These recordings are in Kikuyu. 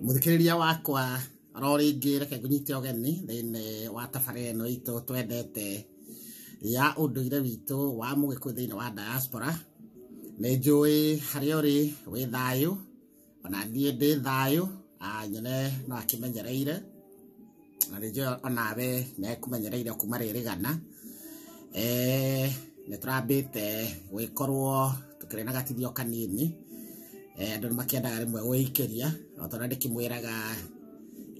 Mũthikĩrĩria wakwa ro rĩngĩ reke ngũnyite ũgeni thĩinĩ wa tabarĩra ĩno itũ twendete ya ũndũire witũ wa mũgĩkũyũ thĩinĩ wa diaspora. Nĩ njũĩ harĩa ũrĩ wĩ thayũ, ona niĩ ndĩ thayũ, nyone no akĩmenyereire. na rĩngĩ onawe mekũmenyereire kuma rĩrĩgana eh, nĩ tũrambĩte gwĩkorwo tũkĩrĩ na gatithio kanini eh, andũ nĩ makĩendaga rĩmwe gwĩikĩria o tondũ ndĩkĩmwĩraga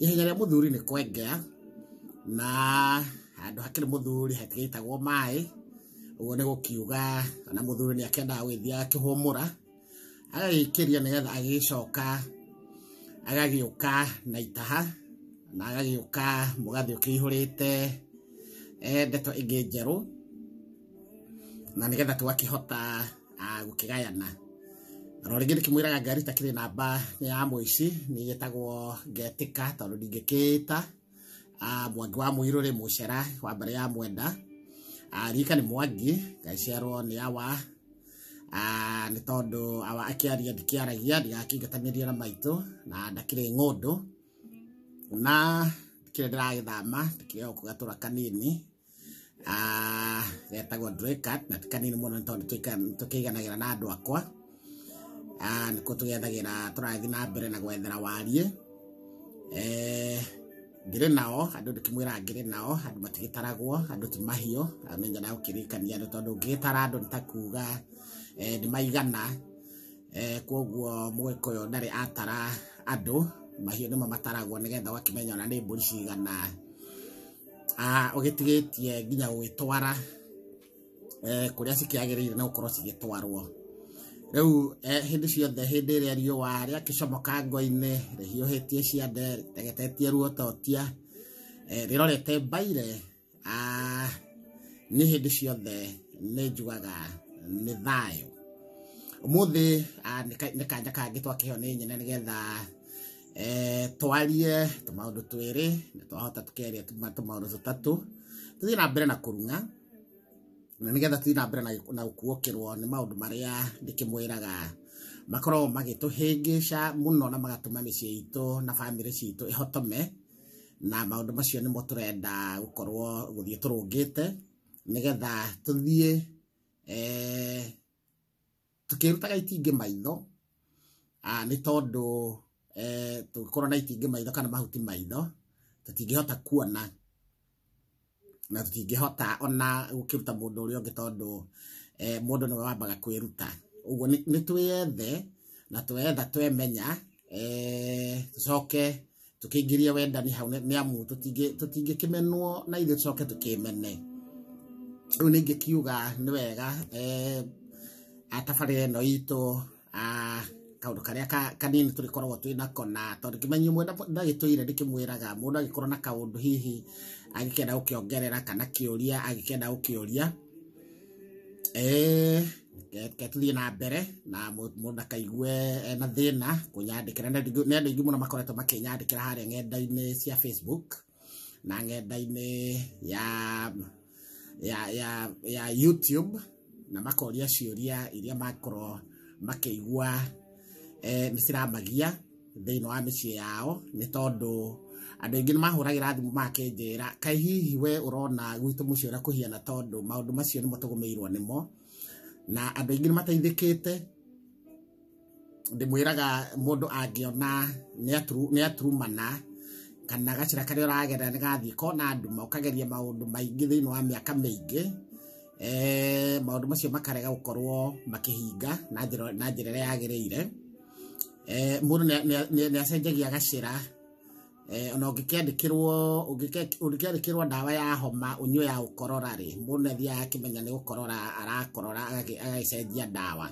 ihenya rĩa mũthuri nĩ kwengea na handũ hakĩrĩ mũthuri hatigĩitagwo maĩ ũguo nĩ gũkiuga ona mũthuri nĩ akendaga gwĩthiaga akĩhũmũra agagĩkĩria nĩgetha agĩcoka agagĩũka na itaha na agagĩũka mũgathĩ ũkĩihũrĩte eh, ndeto ingĩ njerũ na nĩgetha tũgakĩhota ah, gũkĩgayana no rĩngĩ ndĩkĩmwĩraga ngari takĩrĩ namba ya mũici nĩgĩtagwo ngetĩka tondũ ndingĩkĩĩta Ah, mwangi wa muiru ri mucera wa mbere ya mwenda Ah, rika nĩ mwangi ngaciarwo nĩ awa Ah, nĩ tondũ awa akĩaria ndikĩaragia ndigakĩingatanĩria na maitũ na ndakĩrĩ ng'ũndũ na kĩrĩa ndĩragĩthama ndĩkĩrĩ o kũgatũra kanini Ah, getagwo Drakat na ti kanini mũno nĩ tondũ tũika- tũkĩiganagĩra na andũ akwa Ah, nĩkuo tũgethagĩra tũrathiĩ na mbere na gwethera wariĩ Eh, ngĩrĩ nao andũ ndĩkĩmwĩraga ngĩrĩ nao andũ matigĩtaragwo andũ ti mahiũ Ah, nĩ njara gũkĩrĩkania andũ tondũ ũngĩgĩtara andũ nĩ ta kuga eh, nĩ maigana Eh, kwoguo mũgĩkũyũ ndarĩ atara andũ mahiũ nĩmo mataragwo nĩgetha ũgakĩmenya ona nĩ mbũri cigana ah, ũgĩtigĩtie nginya gũgĩtwara eh, kũrĩa cikĩagĩrĩire na gũkorwo cigĩtwarwo rĩu eh, hĩndĩ ciothe hĩndĩ ĩrĩa riũa rĩakĩcomoka ngo-inĩ rĩhiũhĩtie ciande rĩtegetetie ruototia eh, rĩrorete mbaire ah, nĩ hĩndĩ ciothe nĩ njugaga nĩ thayũ umuthi ah, nĩ ka- nĩ kanja kangĩ twakĩheo nĩ nyene nĩgetha eh, twarie tũmaũndũ twĩrĩ na twahota tũkeria tũma- tũmaũndũ tũtatũ tũthiĩ na mbere na kũrung'a na nĩgetha tũthiĩ na mbere na- na gũkuokĩrwo nĩ maũndũ marĩa ndĩkĩmwĩraga makoragwo magĩtũhĩngĩca mũno na magatũma mĩciĩ itũ na bamĩrĩ citũ ĩhotome na maũndũ macio nĩmo tũrenda gũkorwo gũthiĩ tũrũngĩte nĩgetha tũthiĩ eh, tũkĩrutaga itingĩ maitho ah, nĩ tondũ eh, tũngĩkorwo na itingĩ maitho kana mahuti maitho tũtingĩhota kuona na tũtingĩhota ona gũkĩruta mũndũ ũrĩa ũngĩ tondũ eh, mũndũ nĩwe wambaga kwĩruta ũguo nĩ nĩ twĩyethe na twetha twemenya eh, tũcoke tũkĩingĩrie wendani hau nĩ amu tũtingĩkĩmenwo na ithuĩ tũcoke tũkĩmene rĩu ningĩ kiuga nĩ wega eh, atabarĩra ĩno itũ ah, kaundu karia kanini turikoragwo twi nako na tondu kimenyi mwe ndagitwire ndikimwiraga mundu agikorwo na kaundu hihi agikenda gukiongerera kana kiuria agikenda gukiuria Eh, ke- ke tũthiĩ na mbere na mũ- mũndũ ndakaigue ena thĩna kũnyandĩkĩra nĩ andũ nĩ andũ aingĩ mũno makoretwo makĩnyandĩkĩra harĩa ng'enda-inĩ cia facebook na ng'enda-inĩ ya ya ya ya youtube na makoria ciũria iria makorwo makĩigua eh, nĩ ciramagia thĩinĩ wa mĩciĩ yao nĩ tondũ andũ aingĩ nĩ mahũragĩra thimũ makĩnjĩra kaĩ hihi we ũrona gwitũ mũciĩ ũrĩa kũhiana tondũ maũndũ macio nĩmo tũgũmĩirwo nĩmo na andũ aingĩ nĩ mateithĩkĩte ndĩmwĩraga mũndũ angĩona nĩ aturumana kana gacĩra karĩa ũragerera nĩ gathiĩ kona nduma ũkageria maũndũ maingĩ thĩinĩ wa mĩaka mĩingĩ maũndũ macio makarega gũkorwo makĩhinga na njĩra ĩrĩa yagĩrĩire. eh, mũndũ nĩ- nĩ- nĩ- nĩ acenjagia gacĩra eh, ona ũngĩkĩandĩkĩrwo ũngĩke- ũngĩkĩandĩkĩrwo ndawa ya homa ũnyue ya gũkorora rĩ mũndũ nĩ athiaga akĩmenya nĩ gũkorora arakorora agagĩ- agagĩcenjia ndawa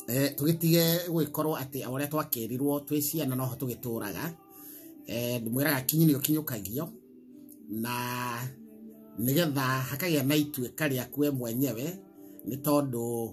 Eh, tũgĩtige gũgĩkorwo atĩ o ũrĩa twakĩrirwo twĩ ciana noho tũgĩtũraga Eh, ndĩmwĩraga kinyi nĩ ũkinyũkagio na nĩgetha hakagĩa na ituĩka rĩaku we mwenyewe nĩ tondũ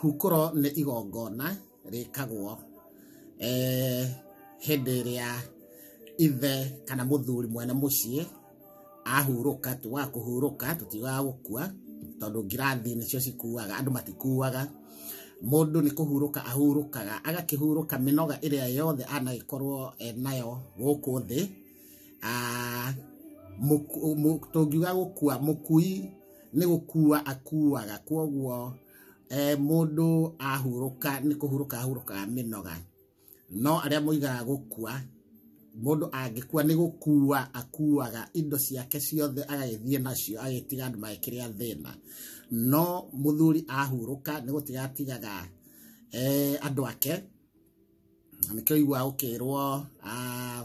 Hukũro nĩ igongona rĩkagwo eh, hĩndĩ ĩrĩa ithe kana mũthuri mwene mũciĩ ahurũka, tugaga kũhurũka, tũtiugaga gũkua tondũ ngirathi nĩcio cikuaga, andũ matikuaga. Mũndũ nĩ kũhurũka ahurũkaga, agakĩhurũka mĩnoga ĩrĩa yothe anagĩkorwo enayo gũkũ thĩ. Ah, mũku- mũ- tũngiuga gũkua mũkui nĩ gũkua akuaga kwoguo eh, mũndũ ahurũka nĩ kũhurũka ahurũkaga mĩnoga no arĩa moigaga gũkua mũndũ angĩkua nĩ gũkua akuaga indo ciake ciothe agagĩthiĩ nacio agĩtiga andũ magĩkĩrĩa thĩna no mũthuri ahurũka nĩ gũtiga atigaga eh, andũ ake na nĩkĩo iguaga gũkĩrwo ah,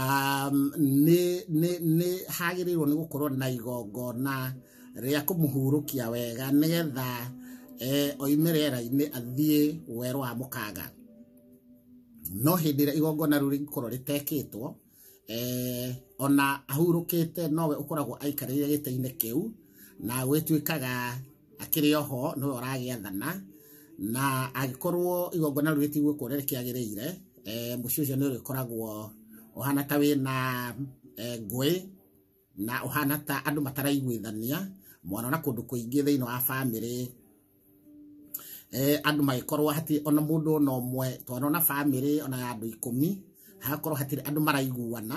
um, nĩ nĩ nĩ hagĩrĩirwo nĩ gũkorwo na igongona rĩa kũmũhurũkia wega nĩgetha eh, oime rĩera-inĩ athiĩ werũ wa mũkanga no hĩndĩ ĩrĩa igongona rĩu rĩngĩkorwo rĩtekĩtwo eh, ona ahurũkĩte nowe ũkoragwo aikarĩire gĩtĩ-inĩ kĩu na gwĩtuĩkaga akĩrĩ oho nĩwe ũragĩathana na angĩkorwo igongona rĩu rĩtigwo kuona rĩkĩagĩrĩire eh, mũciĩ ũcio nĩ ũrĩkoragwo ũhana ta wĩna eh, ngũĩ na ũhana ta andũ mataraiguithania mwana na kũndũ kũingĩ thĩinĩ wa bamĩrĩ eh, andũ magĩkorwo hatirĩ ona mũndũ ona ũmwe twana ona bamĩrĩ ona ya andũ ikũmi hagakorwo hatirĩ andũ maraiguana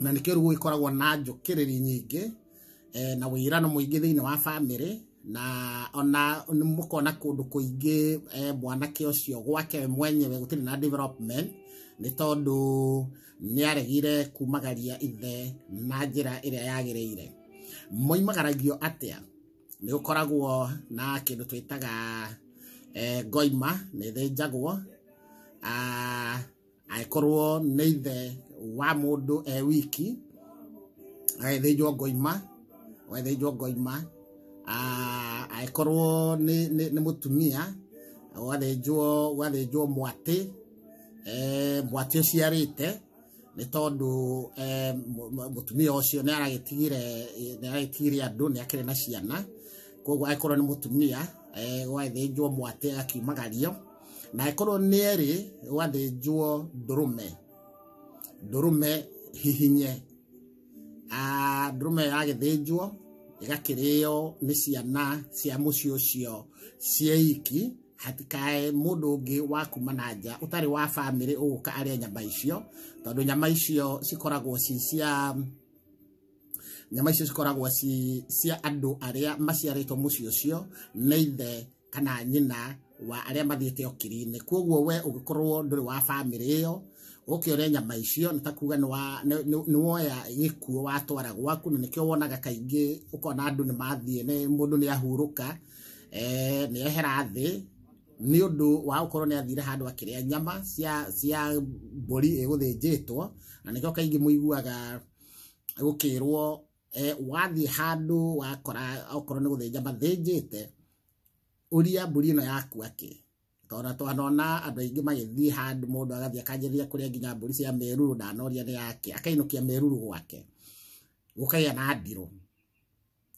na nĩkĩo rĩu gũgĩkoragwo na njũkĩrĩri nyingĩ eh, na wĩirano mũingĩ thĩinĩ wa bamĩrĩ na ona nĩ mũkona kũndũ kũingĩ eh, mwanake ũcio gwake we mwenyewe gũtirĩ na development nĩ tondũ nĩ aregire kumagaria ithe na njĩra ĩrĩa yagĩrĩire moimagaragio atĩa nĩ gũkoragwo na kĩndũ twĩtaga eh, ngoima nĩ ĩthĩnjagwo ah, angĩkorwo nĩ ithe wa mũndũ e wiki agethĩnjwo ngoima agethĩnjwo ngoima Ah, angĩkorwo nĩ nĩ- nĩ mũtumia ũgathĩnjwo ũgathĩnjwo mwatĩ eh, mwatĩ ũciarĩte nĩ tondũ eh, mũ- mũ- mũtumia ũcio nĩ aragĩtigire nĩ aragĩtigire andũ nĩ akĩrĩ na ciana koguo angĩkorwo nĩ mũtumia eh, ũgathĩnjwo mwatĩ agakiumagario na ĩkorwo nĩ erĩ wathĩnjwo ndũrũme ndũrũme hihinye Ah, ndũrũme yagĩthĩnjwo ĩgakĩrĩo nĩ ciana cia mũciĩ ũcio cieiki hatikae mũndũ ũngĩ wa kuma na nja ũtarĩ wa bamĩrĩ ũgũka arĩa nyama icio tondũ nyama icio cikoragwo ci cia nyama icio cikoragwo ci cia andũ arĩa maciarĩtwo mũciĩ ũcio nĩ ithe kana nyina wa arĩa mathiĩte okiri-inĩ kwoguo we ũgĩkorwo ndũrĩ wa bamĩrĩ ĩyo ũkĩore nyama icio nĩ ta kuga nĩ woya gĩkuo watwara gwaku na nĩkĩo wonaga kaingĩ ũkona andũ nĩ mathiĩ mũndũ nĩ ahurũka eh, nĩ ehera thĩ nĩ ũndũ wa gũkorwo nĩ athire handũ akĩrĩa nyama cia cia mbũri ĩgũthĩnjĩtwo na nĩkĩo kaingĩ mũiguaga gũkĩrwo eh, wathiĩ handũ wakora okorwo nĩ gũthĩnja mathĩnjĩte ũria mbũri ĩno yaku akĩ tondũ twanona andũ aingĩ magĩthiĩ handũ mũndũ agathiĩ akanjĩrĩria kũrĩa nginya mbũri cia meruru ndanoria nĩ yake akainũkia meruru gwake gũkagĩa na ndirũ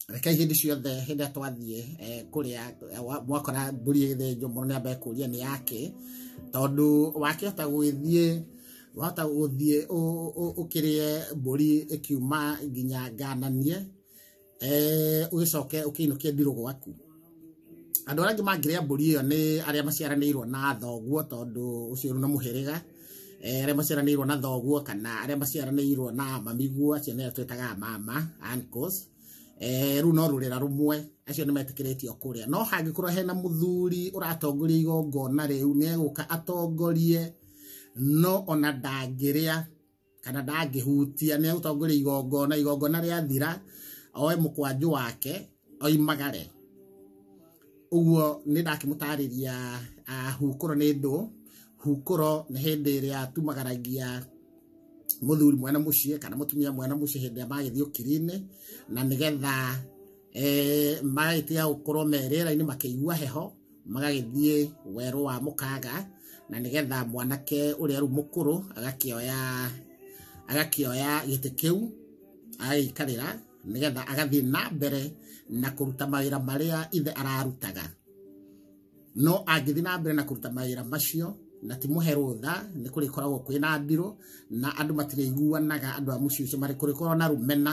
reke hĩndĩ ciothe hĩndĩ ĩrĩa twathiĩ eh, kũrĩa eh, wa- mwakora mbũri ĩgĩthĩnjwo mũndũ nĩ ambaye kũria nĩ yake tondũ wakĩhota gũgĩthiĩ wahota gũthiĩ ũ- ũ- ũkĩrĩe mbũri ĩkiuma nginya ngananie eh, ũgĩcoke ũkĩinũkie ndirũ gwaku andũ arĩa angĩ mangĩrĩa mbũri ĩyo nĩ arĩa maciaranĩirwo na thoguo tondũ ũcio nĩ mũhĩrĩga Eh, arĩa maciaranĩirwo na thoguo kana arĩa maciaranĩirwo na mamiguo acio nĩo twĩtaga mama uncles Eh, rĩu no rũrĩra rũmwe acio nĩ metĩkĩrĩtio kũrĩa no hangĩkorwo hena mũthuri ũratongoria igongona rĩu nĩ egũka atongorie no ona ndangĩrĩa kana ndangĩhutia nĩ ũtongoria igongona igongona rĩathira oe mũkwanjũ wake oimagare ũguo nĩ ndakĩmũtarĩria ah, hukũro nĩ ndũ hukũro nĩ hĩndĩ ĩrĩa tumagaragia muthuri mwena muciĩ kana mutumia mwena muciĩ hĩndĩ ĩrĩa magĩthiĩ ũkiri-inĩ na nĩgetha eh, magĩtiga gũkorwo me rĩera-inĩ makĩigua heho magagĩthiĩ werũ wa mũkanga na nĩgetha mwanake ũrĩa rĩu mũkũrũ agakĩoya agakĩoya gĩtĩ kĩu agagĩikarĩra nĩgetha agathiĩ na mbere na kũruta mawĩra marĩa ithe ararutaga no angĩthiĩ na mbere na kũruta mawĩra macio na ti mũhe rũtha nĩ kũrĩkoragwo kwĩ na mbirũ na andũ matirĩiguanaga andũ a mũciĩ ũcio marĩ kũrĩkorwo na rũmena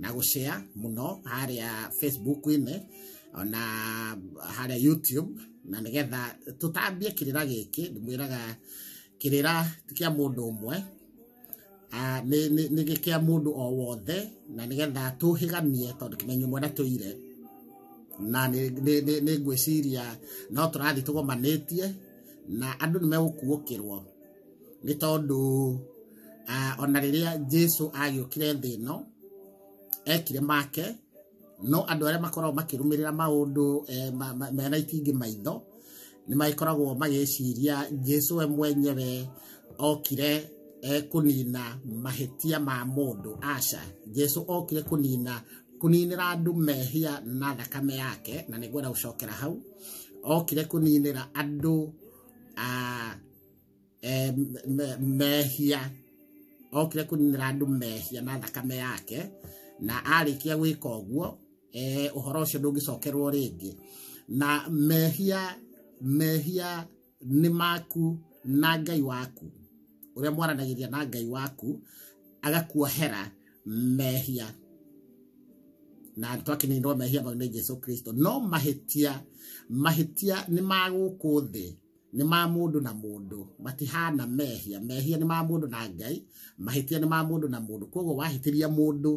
na gũcea mũno harĩa Facebook-inĩ ona harĩa YouTube na nĩgetha tũtambie kĩrĩra gĩkĩ ndĩmwĩraga kĩrĩra ti kĩa mũndũ ũmwe ah, nĩ- nĩ nĩ gĩ- kĩa mũndũ o wothe na nĩgetha tũhĩgamie tondũ kĩmenyo mwana tũire na nĩ- nĩ- nĩ- nĩ ngwĩciria no tũrathiĩ tũgomanĩtie na andũ nĩ megũkuũkĩrwo nĩ tondũ ah, ona rĩrĩa jesu agĩũkire thĩ ĩno ekire make no andũ arĩa makoragwo makĩrũmĩrĩra maũndũ eh, ma- ma- mena itingĩ maitho nĩ magĩkoragwo magĩciria jesu we mwenyewe okire eh, kũnina mahĩtia ma mũndũ aca jesu okire kũnina kũninĩra andũ mehia na thakame yake na nĩ ngwenda gũcokera hau okire kũninĩra andũ ah, eh, me- me- mehia okire kũninĩra andũ mehia na thakame yake na arĩkia gwĩka ũguo eh, ũhoro ũcio ndũngĩcokerwo rĩngĩ na mehia mehia nĩ maku na ngai waku ũrĩa mwaranagĩria na ngai waku agakuohera mehia na twakininirwo mehia mau nĩ jesu kristo no mahĩtia mahĩtia nĩ magũkũ thĩ nĩ ma mũndũ na mũndũ matihana mehia mehia nĩ ma mũndũ na ngai mahĩtia nĩ ma mũndũ na mũndũ koguo wahĩtĩria mũndũ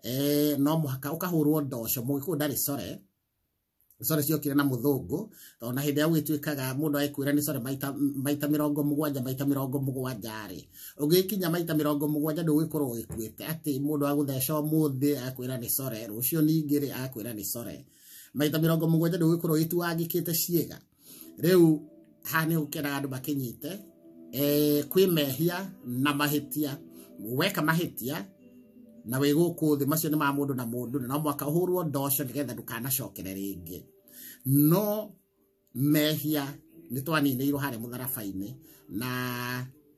eh, no mũhaka ũkahũrwo ndoco mũgĩkũyũ ndarĩ core core ciokire na mũthũngũ tondũ na hĩndĩ ĩrĩa gwĩtuĩkaga mũndũ agĩkwĩra nĩ core maita maita mĩrongo mũgwanja maita mĩrongo mũgwanja rĩ ũngĩkinya maita mĩrongo mũgwanja ndũgĩkorwo ũgĩkuĩte atĩ mũndũ agũtheca ũmũthĩ akwĩra nĩ core rũciũ ningĩ rĩ akwĩra nĩ core maita mĩrongo mũgwanja ndũgĩkorwo ũgĩtuangĩkĩte ciĩga rĩu haha nĩ gũkena andũ makĩnyite eh, kwĩ mehia na mahĩtia weka mahĩtia na wĩ gũkũ thĩ macio nĩ ma mũndũ na mũndũ na no mwaka ũhũrwo ndoco nĩgetha ndũkanacokere rĩngĩ no mehia nĩ twaniinĩirwo harĩa mũtharaba-inĩ na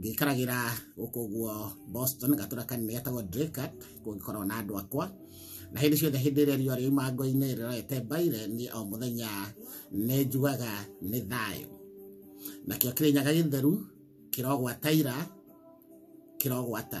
ngĩikaragĩra gũkũ guo Boston gatũra kanene getagwo Dracut kũu ngĩkoragwo na andũ akwa na hĩndĩ ciothe hĩndĩ ĩrĩa riũa rĩuma ngo-inĩ rĩrorete mbaire niĩ o mũthenya nĩ njugaga nĩ thayũ nakĩo kĩrĩnyaga gĩtheru kĩrogwataira kĩrogwata